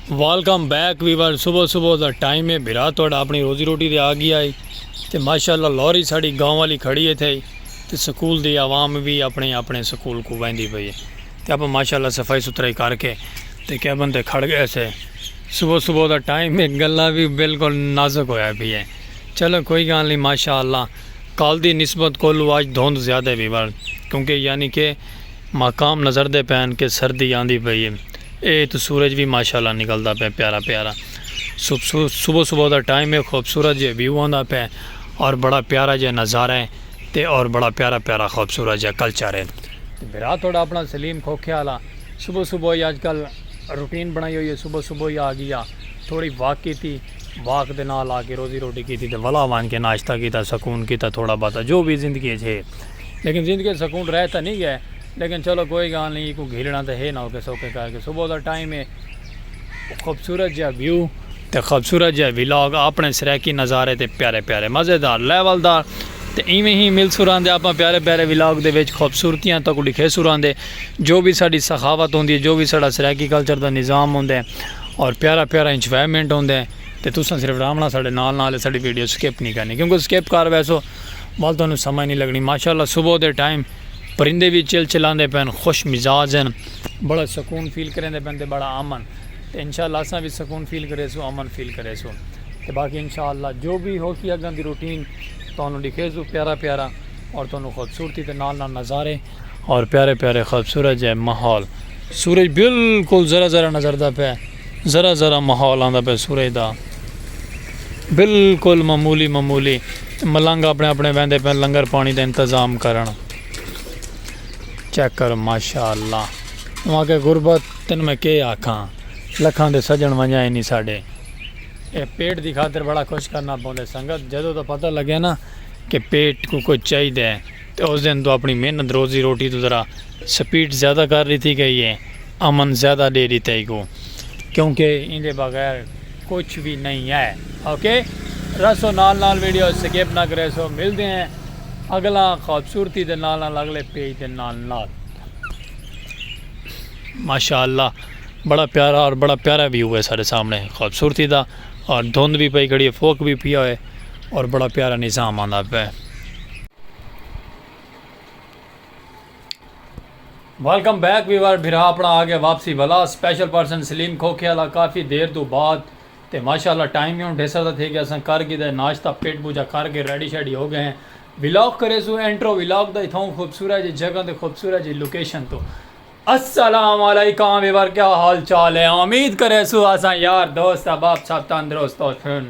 Welcome back viewer صبح صبح دا ٹائم ہے بھرا تھوڑا اپنی روزی روٹی دے آ گیا ہے تے ماشاءاللہ لوری ساڑی گاؤں والی کھڑی ہے تھے تے سکول دی عوام بھی اپنے اپنے سکول کو ویندی پئی ہے تے اپا ماشاءاللہ صفائی ستھرائی کر کے تے کیبن تے کھڑ گئے سے صبح صبح دا ٹائم ہے گلا بھی بالکل نازک ہویا پئی ہے چلو کوئی گال نہیں ماشاءاللہ کال دی نسبت کولو آج دھوند زیادہ ہے ویور کیونکہ یعنی کہ ماقام نظر دے پین کہ سردی آندی پئی اے۔ اے اتوں سورج وی ماشاءاللہ نکلدا پئے پیارا پیارا۔ صبح صبح دا ٹائم اے خوبصورت جئے ویو آندا پئے اور بڑا پیارا جئے نظارہ اے تے اور بڑا پیارا پیارا خوبصورت جئے کلچر اے۔ تے بھرا تہاڈا اپنا سلیم کھوکھے آلا۔ صبح صبح ای اج کل روٹین بنائی ہوئی اے صبح صبح ای آ گیا تھوڑی واک کیتی واک دے نال آ کے روزی روٹی کیتی تے ولا ونج کے ناشتہ کیتا سکون کیتا تھوڑا بہتا جو وی زندگی اچ اے۔ لیکن زندگی اچ سکون رہ تاں نی گئے لیکن چلو کوئی گالھ نی ایکوں گھیلنڑاں تاں ہے نا اوکھے سوکھے کر کے صبح دا ٹائم ہے خوبصورت جیہا ویو تے خوبصورت جیہا ولاگ آپنڑے سرائیکی نظارے تے پیارے پیارے مزیدار لیول دار تے ایویں ہی ملسوں رہندے آپاں پیارے پیارے ولاگ دے وچ خوبصورتیاں تہاکوں ڈکھیسوں رہندے جو وی ساڈی سخاوت ہوندی ہے جو وی ساڈا سرائیکی کلچر دا نظام ہوندے اور پیارا پیارا انجوائمنٹ ہوندے تے تساں صرف راہونڑاں ساڈے نال نال ساڈی ویڈیو سکپ نی کرنی کیونکہ سکپ کر ویسو ول تہانوں سمجھ نی لگنی ماشاء اللہ صبح دے ٹائم پرندے وی چل چلاندے پین خوش مزاج ہن بڑا سکون فیل کریندے پین تے بڑا امن تے انشاء اللہ اساں وی سکون فیل کریسوں امن فیل کریسوں تے باقی انشاء اللہ جو وی ہوسی اگاں دی روٹین تہانوں ڈکھیسوں پیارا پیارا اور تہانوں خوبصورتی دے نال نال نظارے اور پیارے پیارے خوبصورت جے ماحول سورج بالکل ذرا ذرا نظر دا پے ذرا ذرا ماحول آندا پے سورج دا بالکل معمولی معمولی ملنگ اپنے اپنے ویندے پے لنگر پانی دا انتظام کرن چیک کر ماشاءاللہ وہاں کے غربت تن میں کے آکھاں لکھاں دے سجن ونجائے نہیں ساڑے اے پیٹ دی خاطر بڑا خوش کرنا پوندے سنگت جدو تو پتہ لگے نا کہ پیٹ کو کچھ چاہی دے تے اس دن توں اپنڑی محنت روزی روٹی توں ذرا سپیڈ زیادہ کر ڈتی گئی ہے، امن زیادہ ڈے ڈتا ای کوں کیونکہ ایندے بغیر کچھ وی نئیں ہے۔ OK رہسو نال نال ویڈیو سکپ نہ کریسو ملدے ہیں اگلا خوبصورتی دے نال نال اگلے پیج دے نال نال۔ ماشاء اللہ بڑا پیارا اور بڑا پیارا ویو ہے سارے سامنے خوبصورتی دا اور دھند بھی پئی کھڑی ہے فوک بھی پیا ہوئے۔ اور بڑا پیارا نظام آندا پے۔ ویلکم بیک ویور بھرا اپنا آ گیا واپسی ولا سپیشل پرسن سلیم کھوکھے والا کافی دیر تو بعد تے ماشاءاللہ ٹائم بھی ہن ڈھیسر دا تھے گیا اساں کر گھدا ہے ناشتہ پیٹ پوجا کر کے ریڈی شیڈی ہو گئے ہیں ولاگ کرے سو انٹرو ولاگ دا اتھاؤں خوبصورت جی جگہ تے خوبصورت جی لوکیشن تو السلام علیکم ویور کیا حال چال ہے امید کرے سو اساں یار دوست احباب سب تندرست ہو سن۔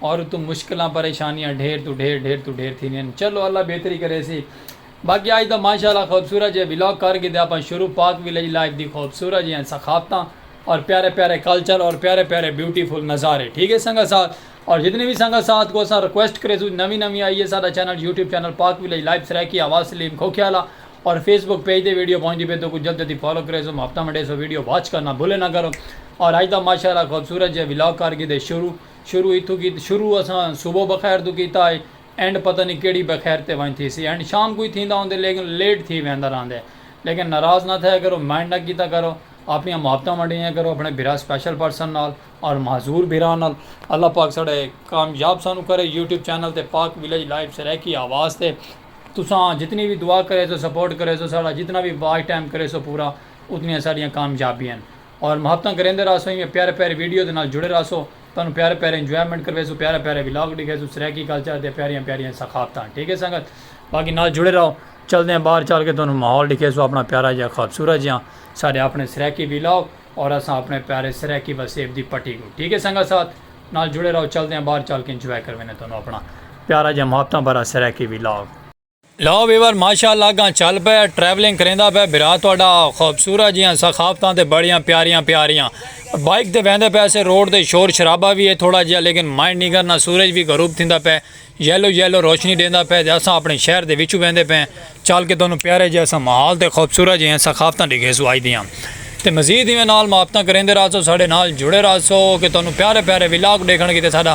اور اتوں مشکلاں پریشانیاں ڈھیر توں ڈھیر ڈھیر توں ڈھیر تھیندین چلو اللہ بہتری کریسی باقی اج دا ماشاء اللہ خوبصورت جیہا ولاگ کر گھدے آپاں شروع پاک ولیج لائف دی خوبصورت جیہاں ثقافتاں اور پیارے پیارے کلچر اور پیارے پیارے بیوٹیفل نظارے ٹھیک ہے سنگت ساتھ اور جتنی وی سنگت ساتھ کو اساں ریکویسٹ کریسوں نوی نوی آئی ہے ساڈا channel YouTube channel Pak village life Saraiki آواز سلیم کھوکھیالہ اور فیس بک پیج تے ویڈیو پہنچدی پئی توکوں جلد جلدی فالو کریسوں محبتاں ونڈیسوں ویڈیو واچ کرنا بھولے نہ کرو اور اج دا ماشاء اللہ خوبصورت جیہا ولاگ کر گھدے شروع شروع اتھوں کیتی شروع اساں صبح بخیر توں کیتا ہئی اینڈ پتہ نی کیڑھی بخیر تے ونج تھیسی اینڈ شام کوں ہی تھیندا ہوندے لیکن لیٹ تھی ویندا راہندے لیکن ناراض نہ تھیا کرو مائنڈ نہ کیتا کرو اپنیاں محبتاں ونڈیاں کرو اپنے بھرا سپیشل پرسن نال اور معذور بھرا نال اللہ پاک ساڈے کامیاب سانوں کرے یوٹیوب چینل تے پاک ولیج لائیو سرائیکی آواز تے تساں جتنی وی دعا کریسو سپورٹ کریسو ساڈا جتنا وی واچ ٹائم کریسو پورا اتنیاں ساڈیاں کامیابیاں ہن۔ اور محبتاں کریندے رہسوں ایویں پیارے پیارے ویڈیو دے نال جڑے رہسوں تہانوں پیارے پیارے انجوائمنٹ کرویسوں پیارے پیارے ولاگ ڈکھیسوں سرائیکی کلچر دیاں پیاریاں پیاریاں ثقافتاں ٹھیک ہے سنگت باقی نال جڑے رہو چلدے ہیں باہر چل کے تہانوں ماحول ڈکھیسوں اپنا پیارا جہاں خوبصورت جہاں سارے اپنے سرائیکی ولاگ اور اساں اپنے پیارے سرائیکی وسیب دی پٹی کو ٹھیک ہے سنگت ساتھ نال جڑے رہو چلدے ہیں باہر چل کے انجوائے کروینے تہانوں اپنا پیارا جہاں محبتاں بھرا سرائیکی ولاگ لو ویور ماشاء اللہ اگاں چل پئے ٹریولنگ کریندا پئے بھرا تہاڈا خوبصورت جیاں ثقافتاں تے بڑیاں پیاریاں پیاریاں بائیک تے ویندے پئے اسے روڈ تے شور شرابہ وی ہے تھوڑا جیاں لیکن مائنڈ نہیں کرنا سورج وی غروب تھیندا پئے یلو یلو روشنی ڈیندا پئے تے اساں اپنے شہر دے وچوں ویندے پئے چل کے تہانوں پیارے جیاں اساں ماحول تے خوبصورت جیاں ثقافتاں ڈیکھیسوں اج دیاں تے مزید ایویں نال محبتاں کریندے راہسو ساڈے نال جڑے راہسو کہ تہانوں پیارے پیارے ولاگ ڈیکھن کیتے ساڈا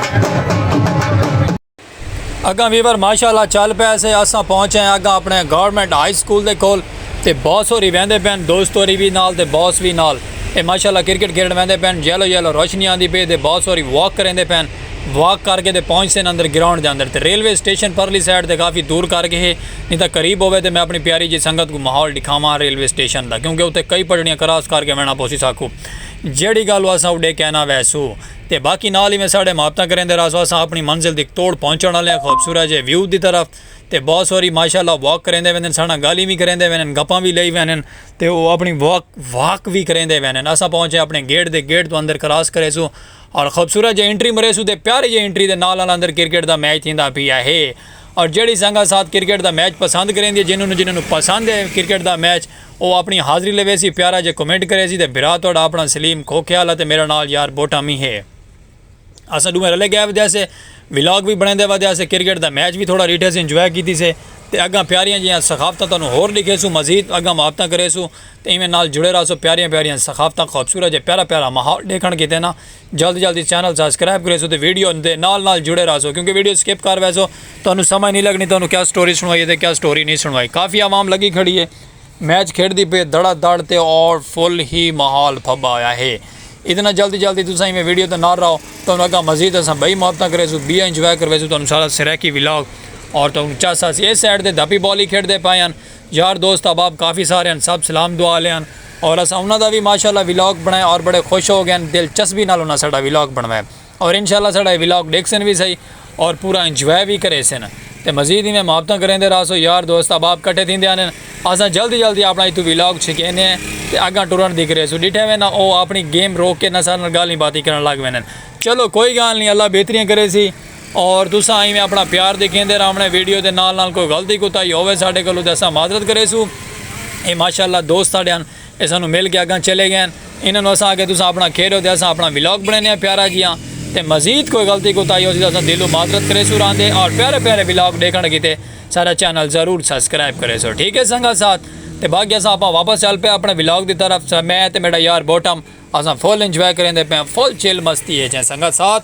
اگاں ویور ماشاءاللہ چل پیا سے اساں پہنچے ہیں اگاں اپنے گورنمنٹ ہائی سکول دے کول تے باس ہوری ویندے پین دوست ہوری بھی نال تے باس بھی نال اے ماشاءاللہ کرکٹ کھیڈن ویندے پین یلو یلو روشنی آندی پی تے باس ہوری واک کریندے پین واک کر کے تے پہنچ سن اندر گراؤنڈ دے اندر تے ریلوے سٹیشن پرلی سائیڈ تے کافی دور کر کے ہے نہیں تا قریب ہوے تے میں اپنی پیاری جی سنگت کو ماحول دکھاواں ریلوے سٹیشن دا کیونکہ اوتے کئی پٹڑیاں کراس کر کے وینا پوسی ساکو جیڑی گل اساں اوڈے کہنا ویسو۔ تے باقی نال ایویں ساڑے محبتاں کریندے راس واساں اپنی منزل دی توڑ پہنچن آلیاں خوبصورت جے ویو دی طرف تے بہت سوری ماشاءاللہ واک کریندے ویندن ساڑاں گالھیں وی کریندے ویندن گپاں وی لئی ویندن تے او اپنی واک واک وی کریندے ویندن اساں پہنچے اپنے گیٹ دے گیٹ توں اندر کراس کریسوں اور خوبصورت جے انٹری مریسوں تے پیاری جے انٹری دے نال نال اندر کرکٹ دا میچ تھیندا پیا ہے اور جیڑھی سنگت ساتھ کرکٹ دا میچ پسند کریندی ہے جنہوں جنہوں پسند ہے کرکٹ دا میچ او آپݨی حاضری لیویسی پیارا جے کمنٹ کریسی تے بھرا تہاݙا آپݨا سلیم کھوکھیال اتے میݙا نال یار بوٹا مینھ ہے اساں ݙوہیں رلے ڳئے ودیاسے ولاگ وی بݨیندے ودیاسے کرکٹ دا میچ وی تھوڑا ݙیٹھیسی انجوائے کیتیسے تے اڳاں پیاریاں جیہاں ثقافتاں تہاݙوں ہور ݙیکھیسوں مزید اڳاں محبتاں کریسوں تے ایویں نال جڑے راہسو پیاریاں پیاریاں ثقافتاں خوبصورت جے پیارا پیارا ماحول ݙیکھݨ کیتے نا جلد جلد اس چینل سبسکرائب کریسو تے ویڈیو دے نال نال جڑے رہسو کیونکہ ویڈیو سکپ کر ویسو تانوں سمجھ نہیں لگنی تانوں کیا سٹوری سنوائی ہے تے کیا سٹوری نہیں سنوائی کافی عوام لگی کھڑی ہے میچ کھیڑ دی پہ دڑا دڑ تے اور فل ہی ماحول پھبا ہویا ہے اتنا جلد جلد تساں میں ویڈیو تے نال رہو تانوں اگا مزید اساں بھائی محبتاں کریسو بی انجوائے کرویسو تانوں سارا سریکی ولاگ اور تانوں چاسا سی اس سائیڈ تے دھپی بالی کھیڑ دے پائے ہیں یار دوست احباب کافی سارے ہن سب سلام دعا آلے ہن اور اساں انہاں دا وی ماشاءاللہ ولاگ بنڑایا اور بڑے خوش ہو گئے ہن دلچسبی نال انہاں ساڈا ولاگ بنڑوایا اور انشاءاللہ ساڈا اے ولاگ ڈیکھسن وی سہی اور پورا انجوائے وی کریسن تے مزید ایویں محبتاں کریندے راہسو یار دوست احباب کٹھے تھیندے آنے ہن اساں جلدی جلدی اپنا اتھوں ولاگ چھکینے ہیں تے اگاں ٹرن دی کریسوں ڈٹھے وے نا او اپنی گیم روک کے نا ساڈے نال گالھیں باتیں کرن لگ ویندے ہن چلو کوئی گالھ نی اللہ بہتریاں کریسی اور تساں ایویں اپنا پیار دیکھیندے راونے ویڈیو دے نال نال کوئی غلطی کوتاہی ہووے ساڈے کولوں تے اساں معذرت کریسو اے ماشاءاللہ دوست ساڈے ہن اے سانوں مل کے اگاں چلے گئے ہن انہاں نوں اساں آکھیا تساں اپنا کھیڈ ہو تے اساں اپنا ولاگ بنڑینے آں پیارا جیہاں تے مزید کوئی غلطی کوتاہی ہوسی تاں اساں دلوں معذرت کریسو راندے اور پیارے پیارے ولاگ ڈیکھنڑ کیتے ساڈا چینل ضرور سبسکرائب کریسو ٹھیک ہے سنگت ساتھ تے باقی اساں اپاں واپس چل پئے اپنے ولاگ دی طرف میں تے میڈا یار بوٹم اساں فل انجوائے کریندے پئے آں فل چل مستی اچ ہیں سنگت ساتھ۔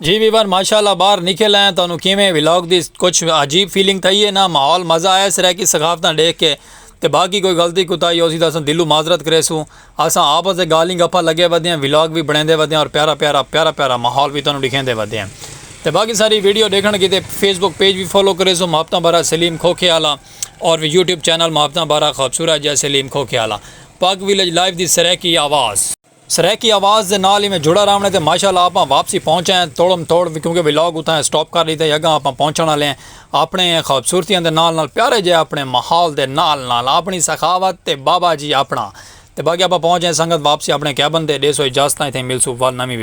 جی ویور ماشاءاللہ باہر نکل آئے تو انہوں کیویں ویلوگ دی کچھ عجیب فیلنگ تھئی ہے نا ماحول مزہ آیا سرے کی ثقافتاں دیکھ کے تے باقی کوئی غلطی کوتاہی ہوسی تاں اساں دلو معذرت کرے سوں اساں آپس دے گالیں گپا لگے ودے ہیں ویلوگ بھی بنیندے ودے ہیں اور پیارا پیارا پیارا پیارا ماحول بھی تانوں دکھیندے ودے ہیں تے باقی ساری ویڈیو دیکھن کیتے فیس بک پیج بھی فالو کرے سوں محبتاں بھرا سلیم کھوکھے آلا اور وی یوٹیوب چینل محبتاں بارہ خوبصورت جے سلیم کھوکھیالہ پاک ویلج لائیو دی سرائیکی آواز۔ سرائیکی آواز دے نال ایویں جڑا راونے تے ماشاءاللہ آپاں واپسی پہنچ آئے ہیں توڑم توڑ کیونکہ ولاگ اتھاں سٹاپ کر ڈیتا ہے اگاں آپاں پہنچن والے ہیں اپنے خوبصورتیاں دے نال نال پیارے جے اپنے ماحول دے نال نال اپنی سخاوت تے بابا جی اپنا تے باقی آپاں پہنچ آئے سنگت واپسی اپنے کیبن تے ڈیسو اجازتاں اتھاں ہی ملسوں ول نویں ویڈیو